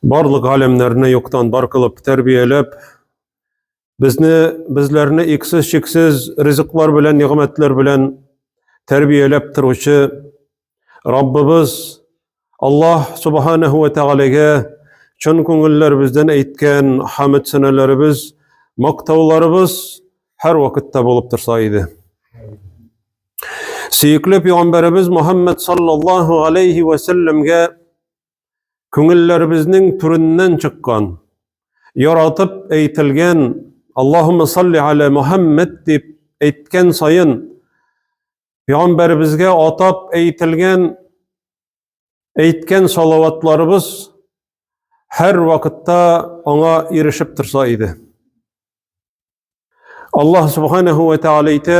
Барлык галимнәрне юктан бар кылып тәрбияләп, безне безләрне иксез чиксез ризыклар белән, нигъмәтләр белән тәрбияләп торучы Раббыбыз Аллаһ субханаһу ва тәгаләгә чын күңелләребездән әйткән хамд сәнәләребез, мактауларыбыз һәр вакытта булып торса иде. Сөекле пәйгамбәребез Мөхәммәд саллаллаһу алейхи ва сәлләмгә күңелләребезнең түреннән чыккан, яратып әйтелгән Аллаһумма салли аля Мухаммад дип әйткән саен, Пәйгамбәребезгә атап әйтелгән әйткән салаватларыбыз һәр вакытта аңа ирешеп торса иде. Аллаһ субханәһү вә тәгалә әйтә: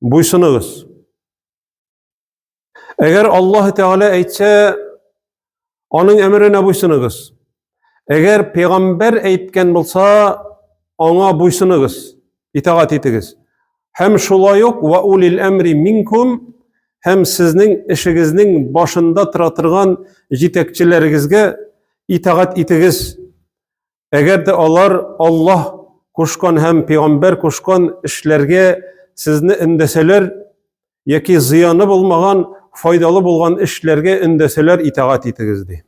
Буйсыныгыз. Әгәр Аллаһ Тәгалә әйтсә, аның әмеренә буйсыныгыз. Әгәр пәйгамбәр әйткән булса, аңа буйсыныгыз, итагать итегез. Һәм шулай ук ва улил әмри минкум һәм сезнең эшегезнең башында тора торган җитәкчеләрегезгә итагать итегез. Әгәр дә алар Аллаһ кушкан һәм пәйгамбәр кушкан эшләргә сезне өндәсәләр яки зыяны булмаган, файдалы булган эшләргә өндәсәләр, итагать итегез ди.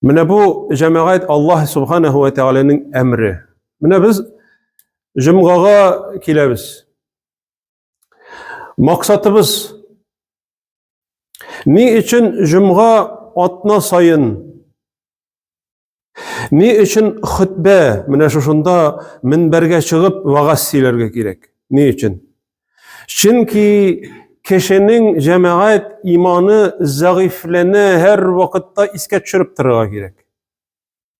Менә бу җәмәгать Аллаһ субханаһу ва тәгаләнең әмре. Менә без җомгага киләбез. Максатыбыз Ни өчен җомга атна сайын Ни өчен хөтбә менә шушында минбәргә чыгып вагаз сөйләргә кирәк? Ни өчен? Чөнки кешенең җәмәгать иманы зәгыйфьләнә, һәр вакытта искә төшереп торырга кирәк.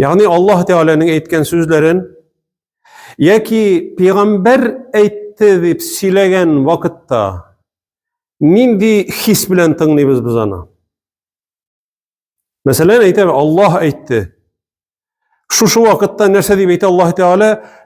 Ягъни Аллаһ Тәгаләнең әйткән сүзләрен яки пәйгамбәр әйтте дип сөйләгән вакытта нинди хис белән тыңлыйбыз без аны? Мәсәлән, әйтәбез, Аллаһ әйтте. Шушы вакытта нәрсә дип әйтә Аллаһ Тәгалә?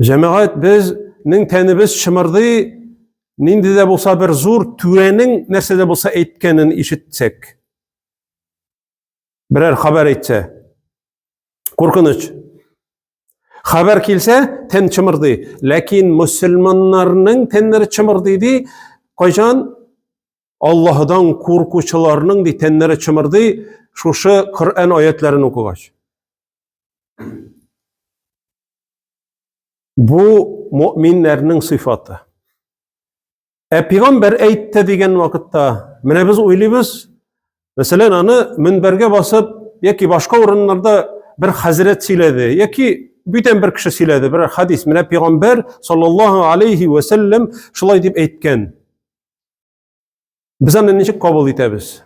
Җәмәгать безнең тәнебез чымырдый, нинди дә булса бер зур түрәнең нәрсә дә булса әйткәнен ишетсәк. Берәр хәбәр әйтсә. Куркыныч. Хәбәр килсә, тән чымырдый. Ләкин мусульманнарның тәннәре чымырдый ди, кайчан Аллаһыдан куркучыларның ди тәннәре чымырдый, шушы Коръән аятларын укыгач. Бу мөминнәрнең сыйфаты. Ә пигамбәр әйтте дигән вакытта, менә без уйлыйбыз, мәсәлән, аны мөнбәргә басып, яки башка урыннарда бер хәзрәт сөйләде, яки бүтән бер кеше сөйләде, бер хадис, менә пигамбәр саллаллаһу алейхи ва саллям шулай дип әйткән. Без аны ничек кабул итәбез?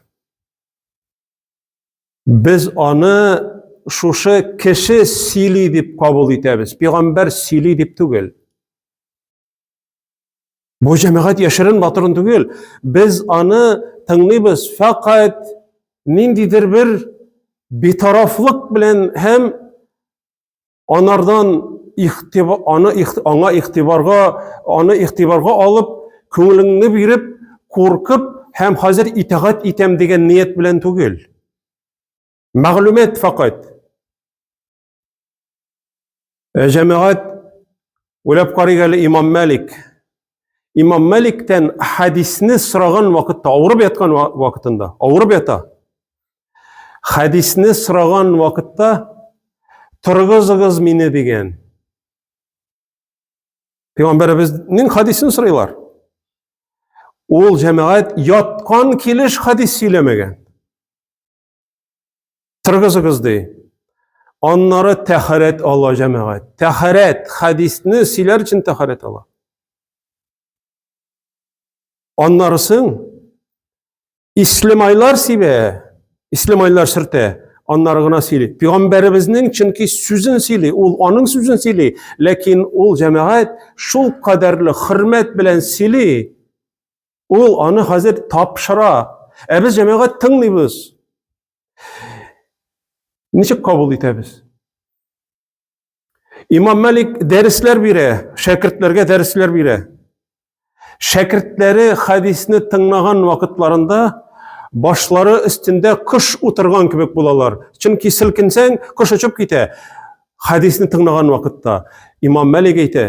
Без аны шушы кеше сөйли дип кабул итәбез. Пигамбәр сөйли дип түгел. Бу җәмәгать яшерен батырын түгел. Без аны тыңлыйбыз фәкать ниндидер бер битарафлык белән һәм Анардан ихтиба, аны, аңа ихтибарга, аны ихтибарга алып, күңелеңне биреп, куркып һәм хәзер итагать итәм дигән ният белән түгел. Мәгълүмат факат. Ә җәмәгать уйлап карыйк әле Имам Малик Имам Мәликтән хәдисне сораган вакытта, авырып яткан вакытында, авырып ята. Хәдисне сораган вакытта торгызыгыз мине дигән. Пәйгамбәребезнең хәдисен сорыйлар. Ул җәмәгать яткан килеш хәдис сөйләмәгән. Торгызыгыз ди. Аннары тәхәрәт ала җәмәгать. Тәхәрәт хадисны сөйләр өчен тәхәрәт ала. Аннарысын ислемайлар сибә, ислемайлар шертә. Аннары гына сөйли. Пәйгамбәребезнең чөнки сүзен сөйли, ул аның сүзен сөйли, ләкин ул җәмәгать шул кадәрле хөрмәт белән сөйли. Ул аны хәзер тапшыра. Ә без җәмәгать тыңлыйбыз. Ничек кабул итәбез? Имам Мәлик дәресләр бирә, шәкертләргә дәресләр бирә. Шәкертләре хәдисне тыңлаган вакытларында башлары өстендә кош утырган кебек булалар. Чөнки селкенсәң, кош очып китә. Хәдисне тыңлаган вакытта Имам Мәлик әйтә,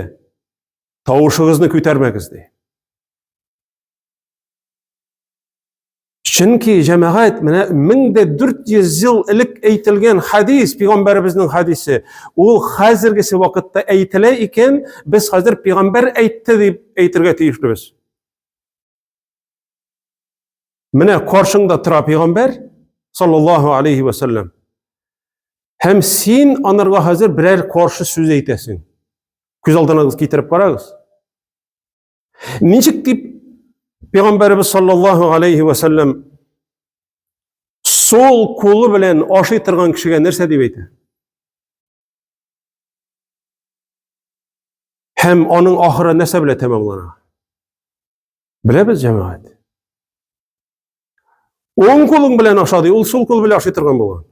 Тавышыгызны күтәрмәгез ди. Чөнки җәмәгать менә 1400 ел элек әйтелгән хадис, пигамбәребезнең хадисе, ул хәзергесе вакытта әйтелә икән, без хәзер пигамбәр әйтте дип әйтергә тиешлебез. Менә каршыңда тора пәйгамбәр саллаллаһу алейхи ва саллям. Һәм син анарга хәзер берәр каршы сүз әйтәсең. Күз алдыгыз китереп карагыз. Ничек дип пәйгамбәрбез саллаллаһу алейхи ва саллям сол кулы белән ашый торган кешегә нәрсә дип әйтә? Һәм аның ахыры нәрсә белән тәмамлана? Беләбез, җәмәгать. Уң кулың белән ашады, ул сул кул белән ашый торган булган.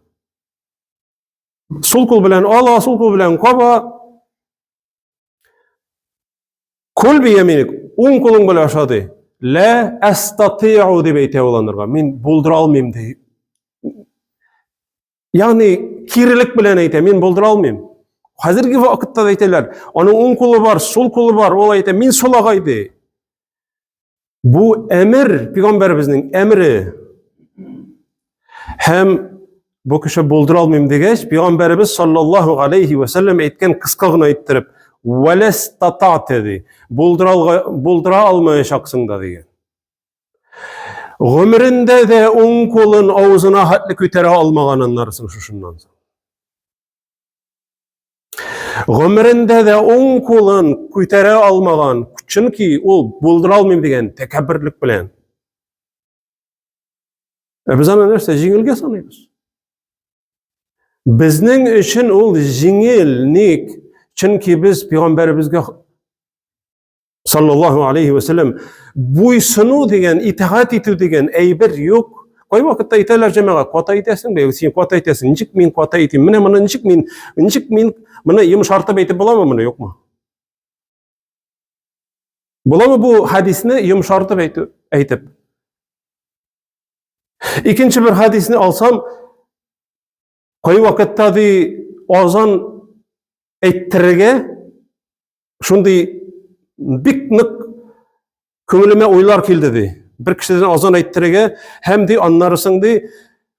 Сул кул белән ала, сул кул белән каба. Кул бияминик, уң кулың белән ашады. Лә әстатиу дип әйтә ул анырга. Мин булдыра алмыйм ди. Ягъни кирелек белән әйтә, мин булдыра алмыйм. Хәзерге вакытта да әйтәләр, аның уң кулы бар, сул кулы бар, ул әйтә, мин сулагай ди. Бу әмер, пигамбәребезнең әмере. Һәм бу кеше булдыра алмыйм дигәч, пигамбәребез саллаллаһу алейхи ва саллям әйткән кыска гына әйттереп, "Валас татата" ди. Булдыра булдыра алмаячаксың да дигән. Гомерендә дә уң кулын авызына хәтле күтәрә алмаган аннарсын шушыннан соң. Гомерендә дә уң кулын күтәрә алмаган, чөнки ул булдыра алмыйм дигән тәкәбберлек белән. Ә без аны нәрсә җиңелгә саныйбыз? Безнең өчен ул җиңел, ник? Чөнки без пәйгамбәребезгә Саллаллаху алейхи ва саллям, буйсыну дигән, итагать итү дигән әйбер юк. Кай вакытта әйтәләр җәмәгә, ката әйтәсең бе, син ката әйтәсең, ничек мин ката әйтим? Менә моны ничек мин, ничек мин моны йомшартып әйтеп буламы моны, юкмы? Буламы бу хадисне йомшартып әйтү, әйтеп? Икенче бер хадисне алсам, Кай вакытта ди азан әйттерергә шундый бик нык күңелемә уйлар килде ди. Бер кешедән азан әйттерергә һәм ди аннарысын ди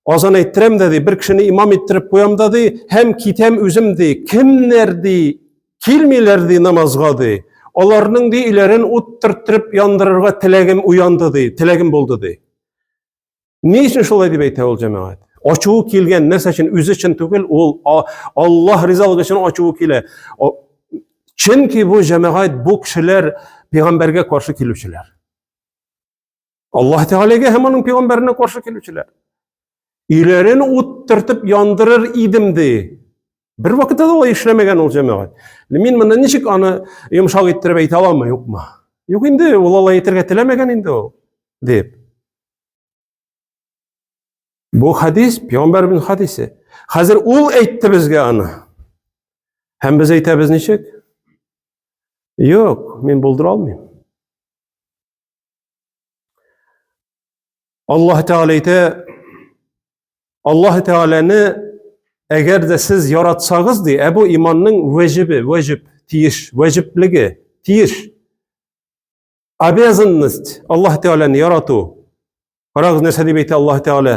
азан әйттерәм дә ди, бер кешене имам иттереп куям да ди, һәм китәм үзем ди. Кемнәр ди килмиләр ди намазга ди. Аларның ди иләрен ут төрттереп яндырырга теләгем уянды ди, теләгем булды ди. Ни өчен шулай дип әйтә ул җәмәгать? Ачуы килгән нәрсә өчен үзе өчен түгел, ул Аллаһ ризалыгы өчен ачуы килә. Чөнки бу җәмәгать бу кешеләр пәйгамбәргә каршы килүчеләр. Аллаһ Тәгаләгә һәм аның пәйгамбәренә каршы килүчеләр. Өйләрен уттыртып яндырыр идем ди. Бер вакытта да алай эшләмәгән ул җәмәгать. Мин моны ничек аны йомшак иттереп әйтә аламмы, юкмы? Юк инде, ул алай әйтергә теләмәгән инде ул, дип. Бу хадис, пәйгамбәрбез хадисе. Хәзер ул әйтте безгә аны. Һәм без әйтәбез ничек? Юк, мин булдыра алмыйм. Аллаһ Тәгалә әйтә, Аллаһ Тәгаләне әгәр дә сез яратсагыз ди, ә бу иманның вәҗибе, вәҗиб, тиеш, вәҗиблеге, тиеш. Обязанность Аллаһ Тәгаләне ярату. Карагыз нәрсә дип әйтә Аллаһ Тәгалә.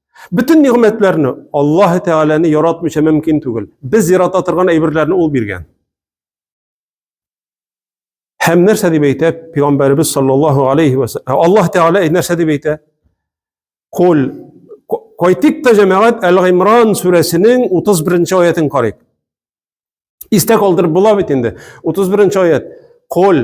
Бөтен нигъмәтләрне Аллаһ Тәгаләне яратмыйча мөмкин түгел. Без ярата торган әйберләрне ул биргән. Һәм нәрсә дип әйтә пәйгамбәребез саллаллаһу алейхи ва саллям? Ә Аллаһ Тәгалә нәрсә дип әйтә? Кул кайтыйк та җәмәгать Әл-Гимран сүрәсенең 31-нче аятын карыйк. Истә калдырып була бит инде. 31-нче аят. Кул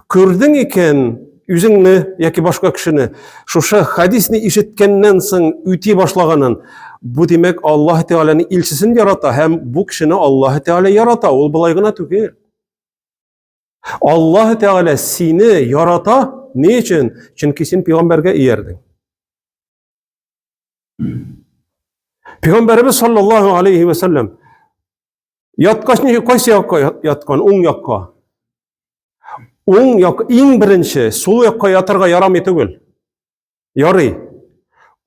Күрдең икән, үзеңне яки башка кешене шушы хадисны ишеткәннән соң үти башлаганын, бу димәк Аллаһ Тәгаләнең илчесен ярата һәм бу кешене Аллаһ Тәгалә ярата, ул болай гына түгел. Аллаһ Тәгалә сине ярата, ни өчен? Чөнки син пәйгамбәргә иярдең. Пәйгамбәребез саллаллаһу алейхи ва саллям яткач ничек кайсы якка яткан? Уң якка. Уң як иң беренче сул якка ятарга ярамый түгел. Ярый.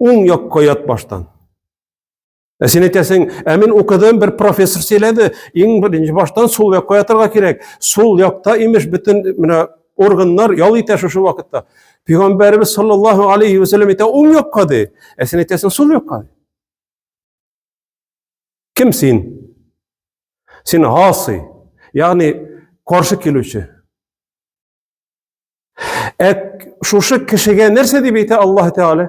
Уң якка ят баштан. Ә син әйтәсең, ә мин укыдым, бер профессор сөйләде, иң беренче баштан сул якка ятарга кирәк. Сул якта имеш бөтен менә органнар ял итә шушы вакытта. Пәйгамбәрбез саллаллаһу алейхи ва саллям әйтә, уң якка ди. Ә син әйтәсең, сул якка. Кем син? Син гасы, ягъни каршы килүче. Ә шушы кешегә нәрсә дип әйтә Аллаһ Тәгалә?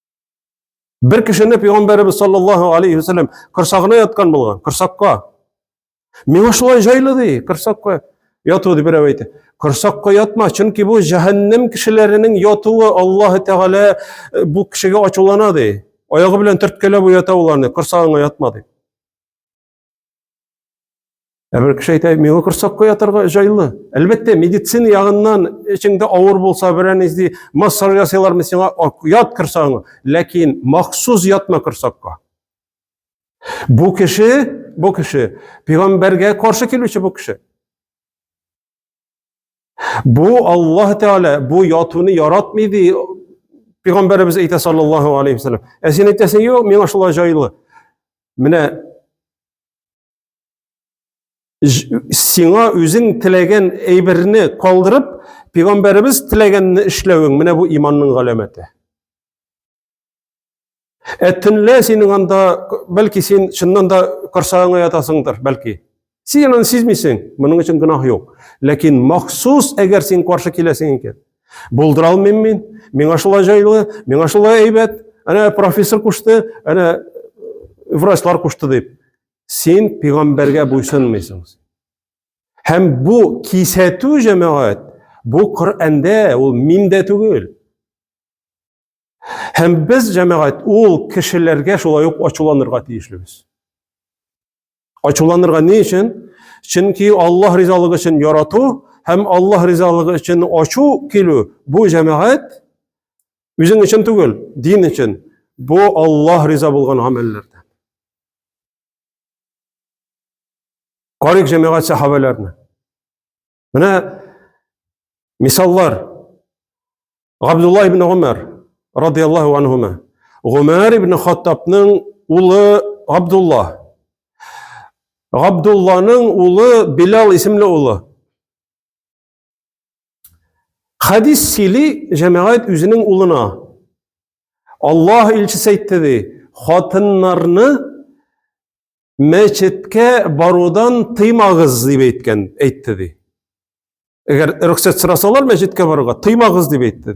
Бер кешене пәйгамбәребез саллаллаһу алейхи ва саллям корсагына яткан булган, корсакка. Миңа шулай җайлы ди, корсакка яту дип берәү әйтә. Корсакка ятма, чөнки бу җәһәннәм кешеләренең ятуы Аллаһ Тәгалә э, бу кешегә ачулана ди. Аягы белән төрткәләп уята уларны, корсагыңа ятма ди. Ә бер кеше әйтә, миңа корсакка ятарга җайлы. Әлбәттә, медицина ягыннан эчеңдә авыр булса, берән изди, массаж ясыйлармы сиңа, ят корсагыңа. Ләкин махсус ятма корсакка. Бу кеше, бу кеше, пигамбәргә каршы килүче бу кеше. Бу Аллаһ Тәгалә бу ятуны яратмый ди Пәйгамбәребез әйтә саллаллаһу алейхи вәсәлләм. Ә син әйтәсең, юк, миңа шулай җайлы. Менә сиңа үзең теләгән әйберне калдырып, пәйгамбәребез теләгәнне эшләвең, менә бу иманның галәмәте. Ә төнлә синең анда, бәлки син чыннан да корсагыңа ятасыңдыр, бәлки. Син аны сизмисең, моның өчен гөнаһ юк. Ләкин махсус әгәр син каршы киләсең икән, булдыра алмыйм мин, миңа шулай җайлы, миңа шулай әйбәт, әнә профессор кушты, әнә врачлар кушты дип. Син пигамбәргә буйсынмыйсың. Һәм бу кисәтү җәмәгать, бу Коръәндә, ул миндә түгел. Һәм без, җәмәгать, ул кешеләргә шулай ук ачуланырга тиешлебез. Ачуланырга ни өчен? Чөнки Аллаһ ризалыгы өчен ярату һәм Аллаһ ризалыгы өчен ачу килү бу җәмәгать үзең өчен түгел, дин өчен. Бу Аллаһ риза булган гамәлләрдән. Карик җәмәгать сахабәләрне. Менә мисаллар. Габдулла ибн Умар радияллаху анһума. Гумар ибн Хаттабның улы Габдулла. Габдулланың улы Билал исемле улы. Хадис сөйли җәмәгать үзенең улына. Аллаһ илчесе әйтте ди, хатыннарны мәчеткә барудан тыймагыз дип әйткән әйтте ди әгәр рөхсәт сорасалар мәчеткә барырга тыймагыз дип әйтте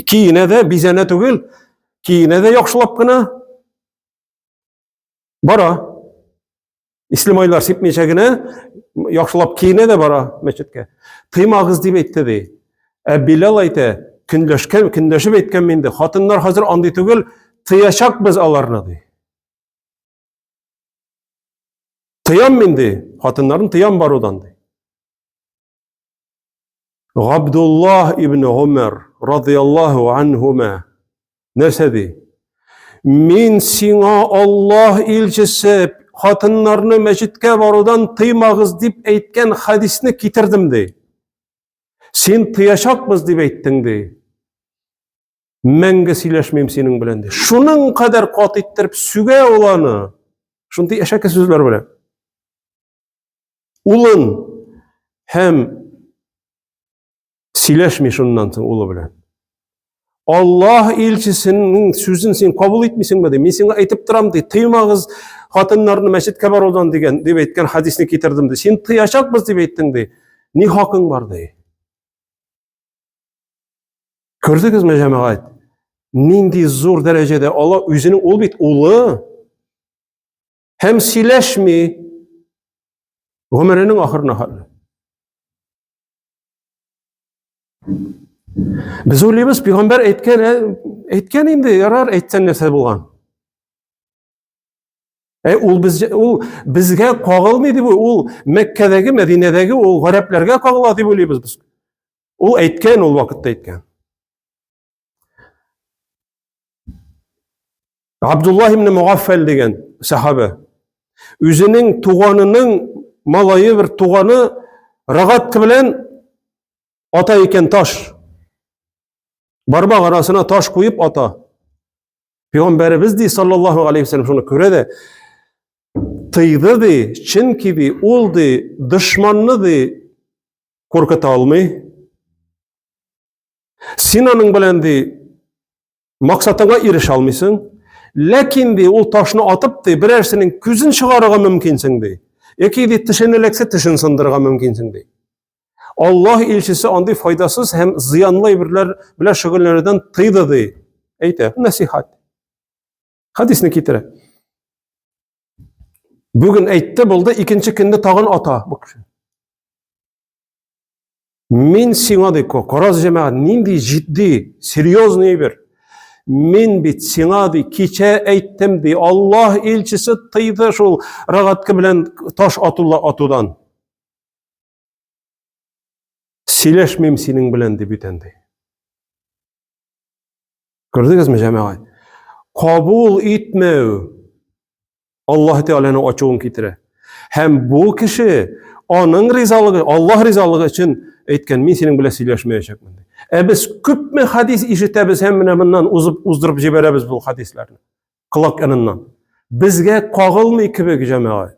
киенә дә бизәнә түгел киенә дә яхшылап кына бара ислемайлар сипмичә генә яхшылап киенә дә бара мәчеткә тыймагыз дип әйтте ди ә билал әйтә көнләшкән көнләшеп әйткәнме инде хатыннар хәзер андый түгел тыячакбыз аларны ди Тыям мин ди, хатыннарын тыям барудан ди. Габдуллаһ ибн Умар радияллаһу анһума нәрсә ди? Мин сиңа Аллаһ илчесе хатыннарны мәчеткә барудан тыймагыз дип әйткән хадисне китердем ди. Син тыячакбыз дип әйттең ди. Мәңге сөйләшмим синең белән ди. Шуның кадәр кат иттереп сүгә ул аны. Шундый әшәке сүзләр белән. Улын һәм сөйләшми шуннан соң улы белән. Аллаһ илчесенең сүзен син кабул итмисеңме ди. Мин сиңа әйтеп торам ди. Тыймагыз хатыннарны мәчеткә барудан дигән дип әйткән хадисны китердем ди. Син тыячакбыз дип әйттең ди. Ни хакың бар ди. Күрдегезме, җәмәгать? Нинди зур дәрәҗәдә Алла үзенең ул бит улы һәм сөйләшми гомеренең ахырына хәтле. Без уйлыйбыз, пигамбәр әйткән, әйткән инде, ярар, әйтсәң нәрсә булган. Ә ул без ул безгә кагылмый дип ул Мәккәдәге, Мәдинәдәге ул гарәпләргә кагыла дип уйлыйбыз без. Ул әйткән ул вакытта әйткән. Абдулла ибн Мугаффал дигән сахабә үзенең туганының малайы бер туганы рогатка белән ата икән таш. Бармак арасына таш куеп ата. Пәйгамбәребез ди саллаллаху алейхи вәсәлләм шуны күрә дә тыйды ди, чөнки ди ул ди дошманны ди куркыта алмый. Син аның белән ди максатыңа ирешә алмыйсың. Ләкин ди ул ташны атып ди берәрсенең күзен чыгарырга мөмкинсең ди. Яки ди тешен эләксә тешен сындырырга мөмкинсең ди. Аллаһ илчесе андый файдасыз һәм зыянлы әйберләр белән шөгыльләнүдән тыйды ди. Әйтә, насихат. Хадисне китерә. Бүген әйтте, булды, икенче көнне тагын ата бу кеше. Мин сиңа ди, караз җәмәгать, нинди җитди, серьезный әйбер. Мин бит сиңа ди, кичә әйттем ди, Аллаһ илчесе тыйды шул рогатка белән таш атула атудан. Сөйләшмим синең белән дип итәнде. Күрдегезме, җәмәгать? Кабул итмәү Аллаһ Тәгаләнең ачуын китерә. Һәм бу кеше аның ризалыгы, Аллаһ ризалыгы өчен әйткән, мин синең белән сөйләшмәячәкмен. Ә без күпме хадис ишетәбез һәм менә моннан узып уздырып җибәрәбез бу хадисларны. Колак яныннан. Безгә кагылмый кебек җәмәгать.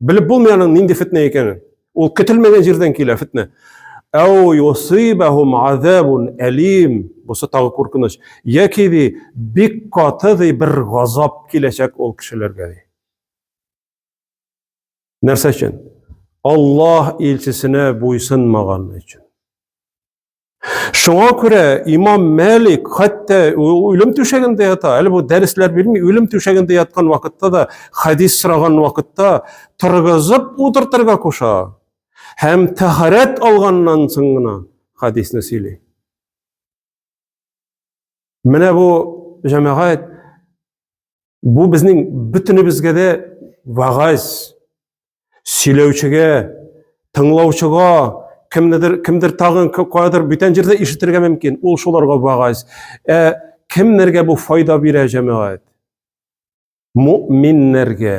Белеп булмый аның нинди фетнә икәнен. Ул көтелмәгән җирдән килә фетнә. Әу юсибахум азабун әлим. Бусы тагы куркыныч. Яки ди бик каты ди бер газап киләчәк ул кешеләргә ди. Нәрсә өчен? Аллаһ илчесенә буйсынмаган өчен. Шуңа күрә имам Мәлик хәтта үлем түшәгендә ята, әле бу дәресләр бирми, үлем түшәгендә яткан вакытта да, хәдис сораган вакытта торгызып утыртырга куша. Һәм тәһарәт алганнан соң гына хәдисне сөйли. Менә бу җәмәгать Бу безнең бөтенебезгә дә вагаз, сөйләүчегә, тыңлаучыга, кемнедер, кемдер тагын каядыр бүтән җирдә ишетергә мөмкин. Ул шуларга вагаз. Ә кемнәргә бу файда бирә җәмәгать? Мөминнәргә.